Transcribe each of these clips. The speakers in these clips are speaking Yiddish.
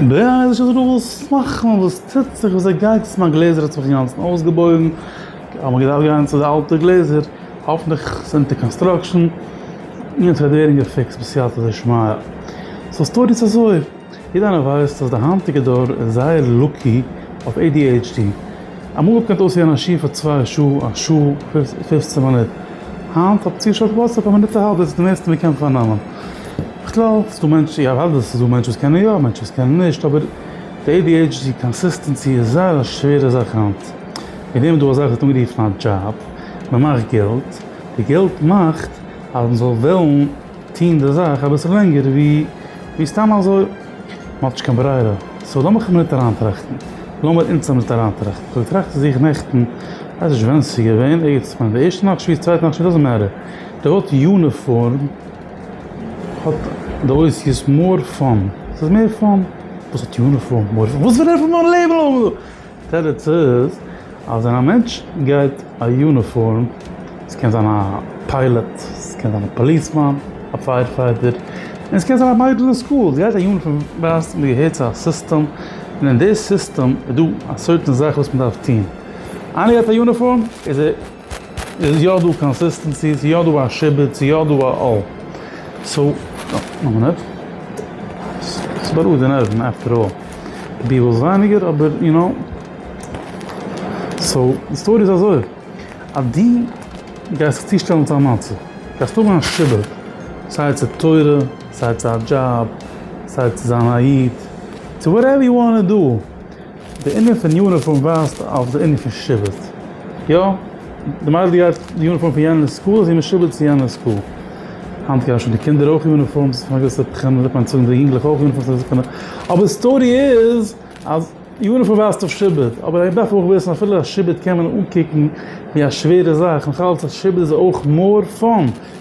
בריאה איז נישט אזוי דא וואס צו מאכן, וואס טוט זיך, ווי אזוי גייט עס, מיין גלעזער האט זיך אינגאנצן אויסגעבויגן, האב איך געדארפט גיין צו די אלטע גלעזער, האפענטליך איז עס אונטער קאנסטראקשען, און עס וועט ווערן געפיקסט בסייעתא דשמיא. סאו סטארי איז אזוי, יעדער איינער ווייסט אז די היינטיגע דור איז זייער לאקי אויף adhd, אמאל קען עס אויסהערן א שיעור פאר צוויי שעה, א שעה און פופצן מינוט, היינט האט צו שארט וואטסעפ א מינוט א האלב איז די מערסטע מען קען פארנעמען. בכלל איז דא מענטשן איך ווייס דאס איז דא מענטשן וואס קענען יא מענטשן וואס קענען נישט אבער די adhd קאנסיסטענסי איז זייער א שווערע זאך היינט. און ווער מען דא אזאך ווערט אנגערופן א דזשאב. מען מאכט געלט. די געלט מאכט אז מען זאל וועלן טון די זאך אביסל לענגער ווי סתם אזוי. מען האט נישט קיין ברירה, סאו לאמיך אים ניט אריינטראכטן, לאמיר אונדז אים ניט אריינטראכטן, כ'האב געטראכט צו זיך נעכטן, כ'ווייס נישט ווען ס'איז געווען, איצט, כ'מיין די ערשטע נאכט שביעית, צווייטע נאכט שביעית, דאזענט מעטער, די אות יוניפארם האט די אותיות מאר פאן, ס'איז מער פאן, וואס האט יוניפארם, מאר פאן, וואס וועט ער פון מיין לעבן האבן? תירוץ איז אז ווען א מענטש גייט א יוניפארם, ס'קען זיין א פיילעט, ס'קען זיין א פאליסמאן, א פייער פייטער, און ס'קען זיין א מיידל אין סקול, ס'גייט א יוניפארם ווייזט מען געהערט צו א סיסטעם, און אין די סיסטעם איז דא א סערטען זאך וואס מען דארף טון, איינער גייט א יוניפארם איז ער. איז יא דא קאנסיסטענסי? איז יא דא א שיבוץ? איז יא דא א אל? סאו, וואן מינוט. ס'איז בארוהט די נערוון עפטער אלל. די בי וואס ווייניגער אבער יו נאו. סאו, די סטארי איז אזוי. אז דו גייסט זיך צושטעלן צו א מצב. גייסט האבן א שיבוץ. סיי צו תורה, סיי צו א דזשאב, סיי צו זיין א איד. צו וואטעווער יו וואנט טו דו. די ענין פון יוניפארם ווייזט אויף די ענין פון שבט. יא, די מיידל גייט די יוניפארם פון יענער סקול, איז זי משובט צו יענער סקול. היינט גייען שוין די קינדער אויך יוניפארמס, פון א געוויסע בחינה וועט מען צאלן די יונגלעך אויך יוניפארמס. אבער די סטארי איז אז יוניפארם ווייזט אויף שבט. אבער איך דארף אויך וויסן אפילו אז שבט קען מען אנקוקן ווי א שווערע זאך, נאכאלץ אז שבט איז אויך מאר פאן.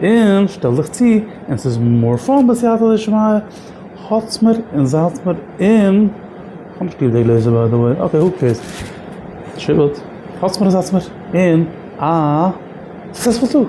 און שטעל דיך צו און ס'איז מאר פאן בסייעתא דשמיא, האטס מיר און זייטס מיר און, כ'האב נישט ליב די גלעזער ביי די וועי, אקעי הו קעירס, שיבוט, האטס מיר און זייטס מיר און א סוקסעספול טאג.